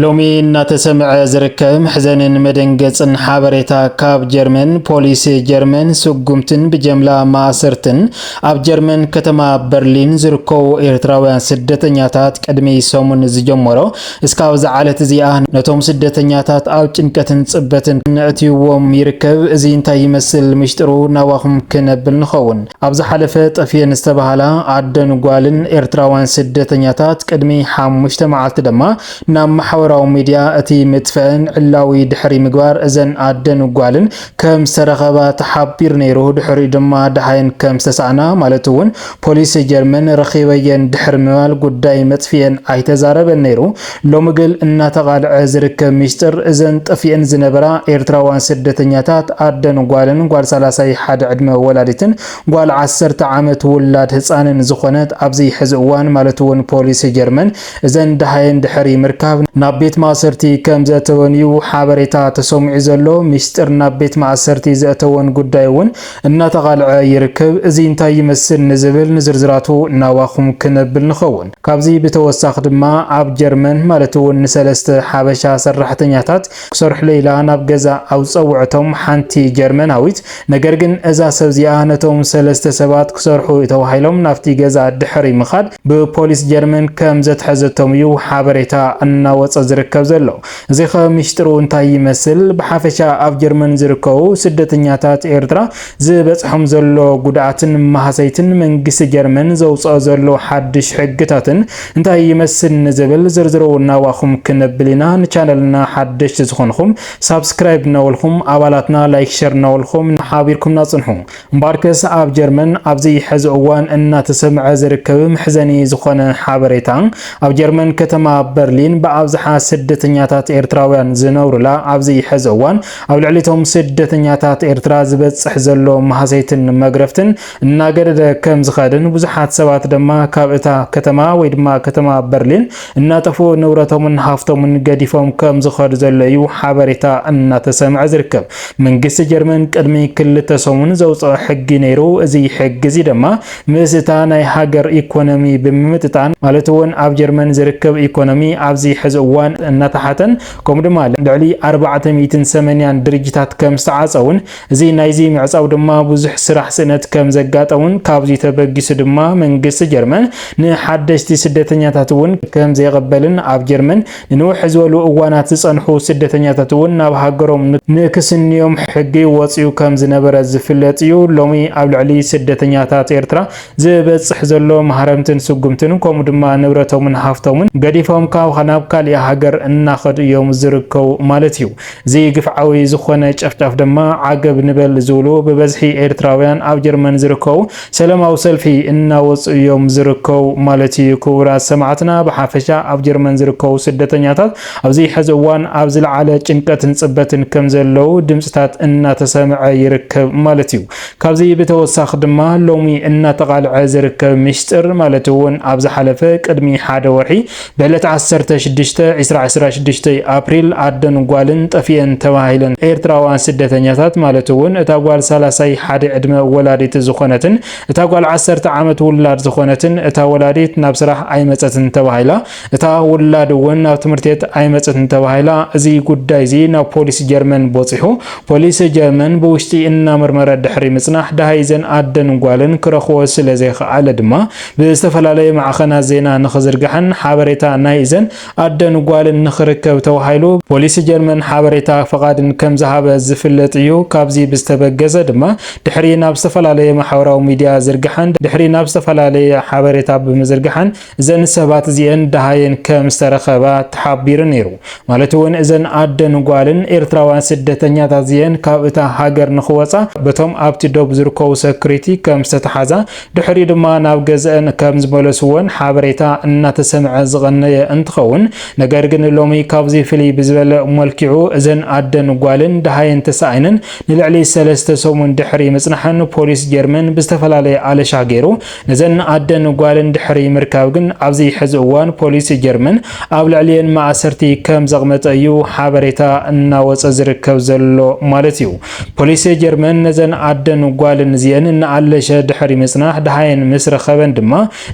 ሎሚ እናተሰምዐ ዝርከብ መሕዘንን መደንገጽን ሓበሬታ ካብ ጀርመን ፖሊስ ጀርመን ስጉምትን ብጀምላ ማእሰርትን ኣብ ጀርመን ከተማ በርሊን ዝርከቡ ኤርትራውያን ስደተኛታት ቅድሚ ሰሙን ዝጀመሮ እስካብ ዝዓለት እዚኣ ነቶም ስደተኛታት ኣብ ጭንቀትን ጽበትን ነእትይዎም ይርከብ። እዚ እንታይ ይመስል ምሽጥሩ ናባኹም ክነብል ንኸውን። ኣብ ዝሓለፈ ጠፍኤን ዝተባህላ ኣደን ጓልን ኤርትራውያን ስደተኛታት ቅድሚ ሓሙሽተ መዓልቲ ደማ ናብ ማሕበራዊ ሚድያ እቲ ምጥፍኤን ዕላዊ ድሕሪ ምግባር እዘን ኣደን ጓልን ከም ዝተረኸባ ተሓቢሩ ነይሩ። ድሕሪኡ ድማ ደሃየን ከም ዝተሳእና ማለት እውን ፖሊስ ጀርመን ረኺበየን ድሕሪ ምባል ጉዳይ መጥፍኤን ኣይተዛረበን ነይሩ። ሎሚ ግል እናተቓልዐ ዝርከብ ሚስጥር እዘን ጠፊኤን ዝነበራ ኤርትራዋን ስደተኛታት ኣደን ጓልን ጓል ሰላሳይ ሓደ ዕድመ ወላዲትን ጓል ዓሰርተ ዓመት ውላድ ህጻንን ዝኾነት ኣብዚ ሕዚ እዋን ማለት እውን ፖሊስ ጀርመን እዘን ደሃየን ድሕሪ ምርካብ ናብ ቤት ማእሰርቲ ከም ዘእተወን እዩ ሓበሬታ ተሰሚዑ ዘሎ። ሚስጥር ናብ ቤት ማእሰርቲ ዘእተወን ጉዳይ እውን እናተቓልዐ ይርከብ። እዚ እንታይ ይመስል ንዝብል ንዝርዝራቱ ናባኹም ክነብል ንኸውን። ካብዚ ብተወሳኺ ድማ ኣብ ጀርመን ማለት እውን ንሰለስተ ሓበሻ ሰራሕተኛታት ክሰርሑለይ ኢላ ናብ ገዛ ኣብ ዝፀውዐቶም ሓንቲ ጀርመናዊት ነገር ግን እዛ ሰብ እዚኣ ነቶም ሰለስተ ሰባት ክሰርሑ እዩ ተባሂሎም ናብቲ ገዛ ድሕሪ ምኻድ ብፖሊስ ጀርመን ከምዘትሐዘቶም እዩ ሓበሬታ እናወፀ ዝርከብ ዘሎ። እዚኸ ሚስጢሩ እንታይ ይመስል? ብሓፈሻ ኣብ ጀርመን ዝርከቡ ስደተኛታት ኤርትራ ዝበጽሖም ዘሎ ጉድኣትን ማህሰይትን መንግስቲ ጀርመን ዘውጽኦ ዘሎ ሓድሽ ሕግታትን እንታይ ይመስል ንዝብል ዝርዝሩ ናባኹም ክነብል ኢና። ንቻነልና ሓደሽቲ ዝኾንኹም ሳብስክራይብ እናበልኹም ኣባላትና ላይክ ሸር እናበልኹም ሓቢርኩምና ጽንሑ። እምበኣርከስ ኣብ ጀርመን ኣብዚ ሕዚ እዋን እናተሰምዐ ዝርከብ መሕዘኒ ዝኾነ ሓበሬታ ኣብ ጀርመን ከተማ በርሊን ብኣብዝሓ ስደተኛታት ኤርትራውያን ዝነብሩላ ኣብዚ ሕዚ እዋን ኣብ ልዕሊቶም ስደተኛታት ኤርትራ ዝበጽሕ ዘሎ ማህሰይትን መግረፍትን እናገደደ ከም ዝኸድን ብዙሓት ሰባት ድማ ካብ እታ ከተማ ወይ ድማ ከተማ በርሊን እናጠፍኡ ንብረቶምን ሃፍቶምን ገዲፎም ከም ዝኸዱ ዘሎ እዩ ሓበሬታ እናተሰምዐ ዝርከብ። መንግስቲ ጀርመን ቅድሚ ክልተ ሰሙን ዘውጽኦ ሕጊ ነይሩ። እዚ ሕጊ እዚ ድማ ምስ እታ ናይ ሃገር ኢኮኖሚ ብምምጥጣን ማለት እውን ኣብ ጀርመን ዝርከብ ኢኮኖሚ ኣብዚ ሕዚ እዋን እናተሓተን ከምኡ ድማ ልዕሊ ኣርባዕተ ሚእትን ሰመንያን ድርጅታት ከም ዝተዓጸውን እዚ ናይዚ ምዕጻው ድማ ብዙሕ ስራሕ ስእነት ከም ዘጋጠሙን ካብዚ ተበጊሱ ድማ መንግስቲ ጀርመን ንሓደሽቲ ስደተኛታት እውን ከም ዘይቕበልን ኣብ ጀርመን ንንውሕ ዝበሉ እዋናት ዝጸንሑ ስደተኛታት እውን ናብ ሃገሮም ንክስንዮም ሕጊ ወጺኡ ከም ዝነበረ ዝፍለጥ እዩ። ሎሚ ኣብ ልዕሊ ስደተኛታት ኤርትራ ዝበጽሕ ዘሎ ማህረምትን ስጉምትን ከምኡ ድማ ንብረቶምን ሃፍቶምን ገዲፎም ካብ ናብ ካሊእ ሃገር እናኸዱ እዮም ዝርከቡ ማለት እዩ። እዚ ግፍዓዊ ዝኾነ ጨፍጫፍ ድማ ዓገብ ንበል ዝብሉ ብበዝሒ ኤርትራውያን ኣብ ጀርመን ዝርከቡ ሰለማዊ ሰልፊ እናወጹ እዮም ዝርከቡ ማለት እዩ። ክቡራት ሰማዕትና ብሓፈሻ ኣብ ጀርመን ዝርከቡ ስደተኛታት ኣብዚ ሕዚ እዋን ኣብ ዝለዓለ ጭንቀትን ጽበትን ከም ዘለዉ ድምጽታት እናተሰምዐ ይርከብ ማለት እዩ። ካብዚ ብተወሳኺ ድማ ሎሚ እናተቓልዐ ዝርከብ ሚሽጥር ማለት እውን ኣብ ዝሓለፈ ቅድሚ ሓደ ወርሒ ብዕለት ዓሰርተ ሽዱሽተ፣ ዕስራ፣ ዕስራ ሽዱሽተ ኣፕሪል ኣደን ጓልን ጠፊኤን ተባሂለን ኤርትራውያን ስደተኛታት ማለት እውን እታ ጓል ሳላሳይ ሓደ ዕድመ ወላዲት ዝኾነትን እታ ጓል ዓሰርተ ዓመት ውላድ ዝኾነትን እታ ወላዲት ናብ ስራሕ ኣይመፀትን ተባሂላ እታ ውላድ እውን ናብ ትምህርትቤት ኣይመፀትን ተባሂላ እዚ ጉዳይ እዚ ናብ ፖሊስ ጀርመን ቦፂሑ ፖሊስ ጀርመን ብውሽጢ እናመርመረ ድሕሪ ምፅናሕ ደሃይ እዘን ኣደን ጓልን ክረኽቦ ስለዘይኸኣለ ድማ ብዝተፈላለዩ ማዕኸናት ዜና ንኽዝርጋሕን ሓበሬታ ናይ እዘን ኣደን ጓልን ንኽርከብ ተባሂሉ ፖሊስ ጀርመን ሓበሬታ ፍቓድን ከምዝሃበ ዝፍለጥ እዩ። ካብዚ ብዝተበገሰ ድማ ድሕሪ ናብ ዝተፈላለየ ማሕበራዊ ሚዲያ ዝርግሐን ድሕሪ ናብ ዝተፈላለየ ሓበሬታ ብምዝርግሐን እዘን ሰባት እዚኤን ደሃየን ከምዝተረኸባ ተሓቢሩ ነይሩ። ማለት እውን እዘን ኣደን ጓልን ኤርትራውያን ስደተኛታት እዚኤን ካብ እታ ሃገር ንኽወፃ በቶም ኣብቲ ዶብ ዝርከቡ ሰኩሪቲ ከምዝተተሓዛ ድሕሪኡ ድማ ናብ ገዘእን ከም ዝመለስዎን ሓበሬታ እናተሰምዐ ዝቐነየ እንትኸውን፣ ነገር ግን ሎሚ ካብዚ ፍልይ ብዝበለ መልኪዑ እዘን ኣደን ጓልን ደሃየን ተሳኢነን ንልዕሊ ሰለስተ ሰሙን ድሕሪ ምፅናሐን ፖሊስ ጀርመን ብዝተፈላለየ ኣለሻ ገይሩ ነዘን ኣደን ጓልን ድሕሪ ምርካብ ግን ኣብዚ ሕዚ እዋን ፖሊስ ጀርመን ኣብ ልዕሊኤን ማእሰርቲ ከም ዘቕመጠ እዩ ሓበሬታ እናወፀ ዝርከብ ዘሎ ማለት እዩ። ፖሊስ ጀርመን ነዘን ኣደን ጓልን እዚኤን እናኣለሸ ድሕሪ ምጽናሕ ደሃየን ምስ ረኸበን ድማ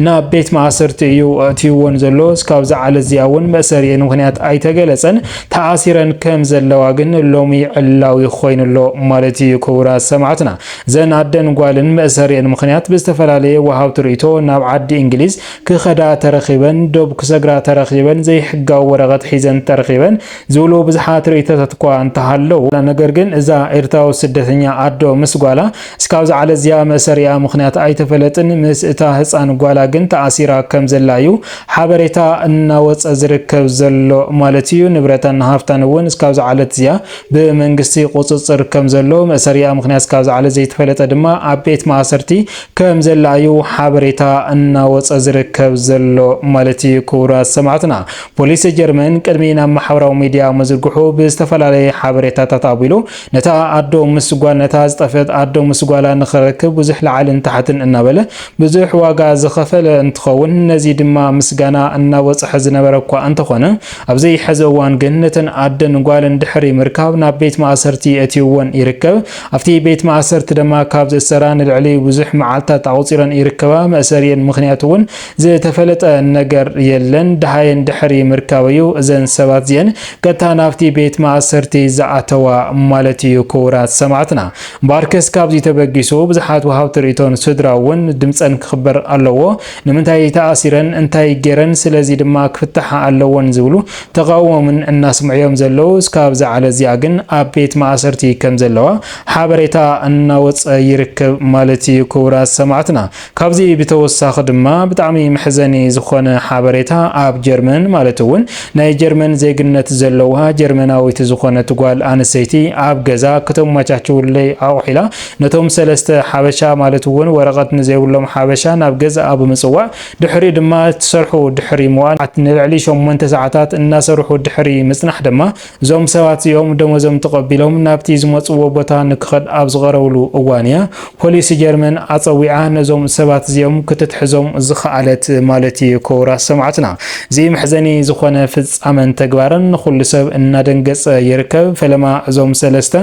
ናብ ቤት ማእሰርቲ እዩ ኣእትዩወን ዘሎ። እስካብ እዛ ዕለት እዚኣ እውን መእሰሪኤን ምኽንያት ኣይተገለጸን። ተኣሲረን ከም ዘለዋ ግን ሎሚ ዕላዊ ኮይኑ ኣሎ ማለት እዩ። ክቡራት ሰማዕትና እዘን ኣደን ጓልን መእሰሪኤን ምኽንያት ብዝተፈላለየ ወሃብቲ ርእይቶ ናብ ዓዲ እንግሊዝ ክኸዳ ተረኺበን፣ ዶብ ክሰግራ ተረኺበን፣ ዘይሕጋዊ ወረቐት ሒዘን ተረኺበን፣ ዝብሉ ብዙሓት ርእይቶታት እኳ እንተሃለዉ፣ ነገር ግን እዛ ኤርትራዊት ስደተኛ ኣዶ ምስ ጓላ እስካብ ዝዓለዝያ መእሰሪኣ ምኽንያት ኣይተፈለጥን፣ ምስ እታ ህጻን ጓላ ግን ተኣሲራ ከም ዘላ እዩ ሓበሬታ እናወጸ ዝርከብ ዘሎ ማለት እዩ። ንብረታን ሃፍታን እውን እስካብ ዝዓለትዝያ ብመንግስቲ ቁጽጽር ከም ዘሎ፣ መእሰሪኣ ምኽንያት እስካብ ዝዓለዝ ዘይተፈለጠ ድማ ኣብ ቤት ማእሰርቲ ከም ዘላ እዩ ሓበሬታ እናወጸ ዝርከብ ዘሎ ማለት እዩ። ክቡራት ሰማዕትና! ፖሊስ ጀርመን ቅድሚ ናብ ማሕበራዊ ሚድያ ምዝርግሑ ብዝተፈላለየ ሓበሬታታት ኣቢሉ ነታ ኣዶ ምስ ጓል ነታ ዝጠፍእት ኣዶ ምስ ጓላ ንኽረክብ ብዙሕ ላዕልን ታሕትን እናበለ ብዙሕ ዋጋ ዝኸፈለ እንትኸውን ነዚ ድማ ምስጋና እናበፅሖ ዝነበረ እኳ እንተኾነ ኣብዚ ሕዚ እዋን ግን ነተን ኣደን ጓልን ድሕሪ ምርካብ ናብ ቤት ማእሰርቲ የእትዩወን ይርከብ ኣብቲ ቤት ማእሰርቲ ድማ ካብ ዝእሰራ ንልዕሊ ብዙሕ መዓልትታት ኣቑፂረን ይርከባ መእሰሪኤን ምኽንያት እውን ዝተፈለጠ ነገር የለን ደሃይ እንድሕሪ ምርካበዩ እዘን ሰባት እዚኤን ቀጥታ ናብቲ ቤት ማእሰርቲ ዝኣተዋ ማለት እዩ ክቡራት ሰማዕትና እምበኣርከስ ካብዚ ተበጊሱ ብዙሓት ወሃብቲ ርእቶን ስድራ እውን ድምፀን ክኽበር ኣለዎ ንምንታይ ተኣሲረን እንታይ ጌረን ስለዚ ድማ ክፍታሓ ኣለወን ዝብሉ ተቓውሞምን እናስምዑ እዮም ዘለዉ እስካብ ዝዓለ እዚኣ ግን ኣብ ቤት ማእሰርቲ ከምዘለዋ ሓበሬታ እናወፀ ይርከብ ማለት እዩ ክቡራት ሰማዕትና ካብዚ ብተወሳኺ ድማ ብጣዕሚ መሕዘኒ ዝኾነ ሓበሬታ ኣብ ጀርመን ማለት እውን ናይ ጀርመን ዜግነት ዘለዋ ጀርመናዊት ዝኾነት ጓል ኣንሰይቲ ኣብ ገዛ ክተማቻችውለይ ኣቑሒላ ነቶም ሰለስተ ሓበሻ ማለት እውን ወረቐት ንዘይብሎም ሓበሻ ናብ ገዛኣ ብምፅዋዕ ድሕሪኡ ድማ ትሰርሑ ድሕሪ ምዋል ንልዕሊ ሸሞንተ ሰዓታት እናሰርሑ ድሕሪ ምፅናሕ ድማ እዞም ሰባት እዚኦም ደሞዞም ተቐቢሎም ናብቲ ዝመጽዎ ቦታ ንክኸድ ኣብ ዝቐረብሉ እዋን እያ ፖሊስ ጀርመን ኣጸዊዓ ነዞም ሰባት እዚኦም ክትትሕዞም ዝኸኣለት ማለት እዩ ክቡራት ሰማዕትና እዚ መሕዘኒ ዝኾነ ፍጻመን ተግባርን ንኹሉ ሰብ እናደንገጸ ይርከብ ፈለማ እዞም ሰለስተ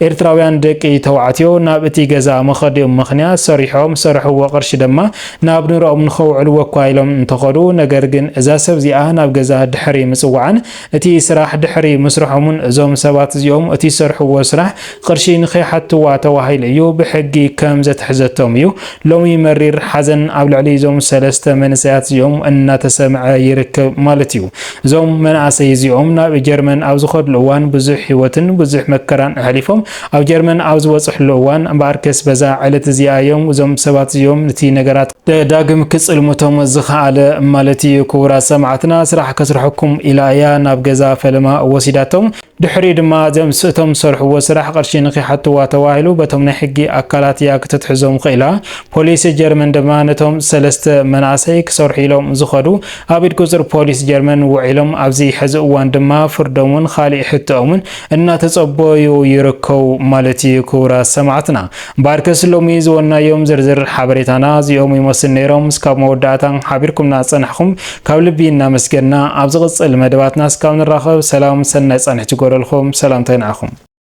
ኤርትራውያን ደቂ ተባዕትዮ ናብ እቲ ገዛ መኸዲኦም ምኽንያት ሰሪሖም ዝሰረሕዎ ቅርሺ ድማ ናብ ንረኦም ንኸውዕልዎ እኳ ኢሎም እንተኸዱ ነገር ግን እዛ ሰብ እዚኣ ናብ ገዛ ድሕሪ ምጽዋዓን እቲ ስራሕ ድሕሪ ምስርሖም'ውን እዞም ሰባት እዚኦም እቲ ዝሰርሕዎ ስራሕ ቕርሺ ንኸይሓትዋ ተባሂሉ እዩ ብሕጊ ከም ዘትሕዘቶም እዩ ሎሚ መሪር ሓዘን ኣብ ልዕሊ እዞም ሰለስተ መንእሰያት እዚኦም እናተሰምዐ ይርከብ ማለት እዩ። እዞም መናእሰይ እዚኦም ናብ ጀርመን ኣብ ዝኸድሉ እዋን ብዙሕ ህይወትን ብዙሕ መከራን ኣሕሊፎም ኣብ ጀርመን ኣብ ዝበፅሕሉ እዋን እምበኣርከስ በዛ ዕለት እዚኣ እዮም እዞም ሰባት እዚኦም ንቲ ነገራት ደዳግም ክጽልሙቶም ዝኸኣለ ማለት ኢዩ ክቡራት ሰማዕትና ስራሕ ከስርሐኩም ኢላ ኢያ ናብ ገዛ ፈለማ ወሲዳቶም ድሕሪኡ ድማ እዞም ስእቶም ዝሰርሕዎ ስራሕ ቅርሺ ንኺሓትዋ ተባሂሉ በቶም ናይ ሕጊ ኣካላት ኢያ ክትትሕዞም ኽኢላ ፖሊስ ጀርመን ድማ ነቶም ሰለስተ መናእሰይ ክሰርሑ ኢሎም ዝኸዱ ኣብ ኢድ ቁጽር ፖሊስ ጀርመን ውዒሎም ኣብዚ ሕዚ እዋን ድማ ፍርዶምን ኻሊእ ሕቶኦምን እናተጸበዩ ይርከቡ ማለት ኢዩ ክቡራት ሰማዕትና እምበኣርከስ ሎሚ ዝወንናዮም ዝርዝር ሓበሬታና እዚኦም ይመስል ነይሮም። እስካብ መወዳእታ ሓቢርኩምና ዝጸናሕኹም ካብ ልቢ እናመስገንና ኣብ ዝቕጽል መደባትና እስካብ ንራኸብ ሰላም ሰናይ ጻንሒት ይጎደልኩም። ሰላምታይ ንዓኹም።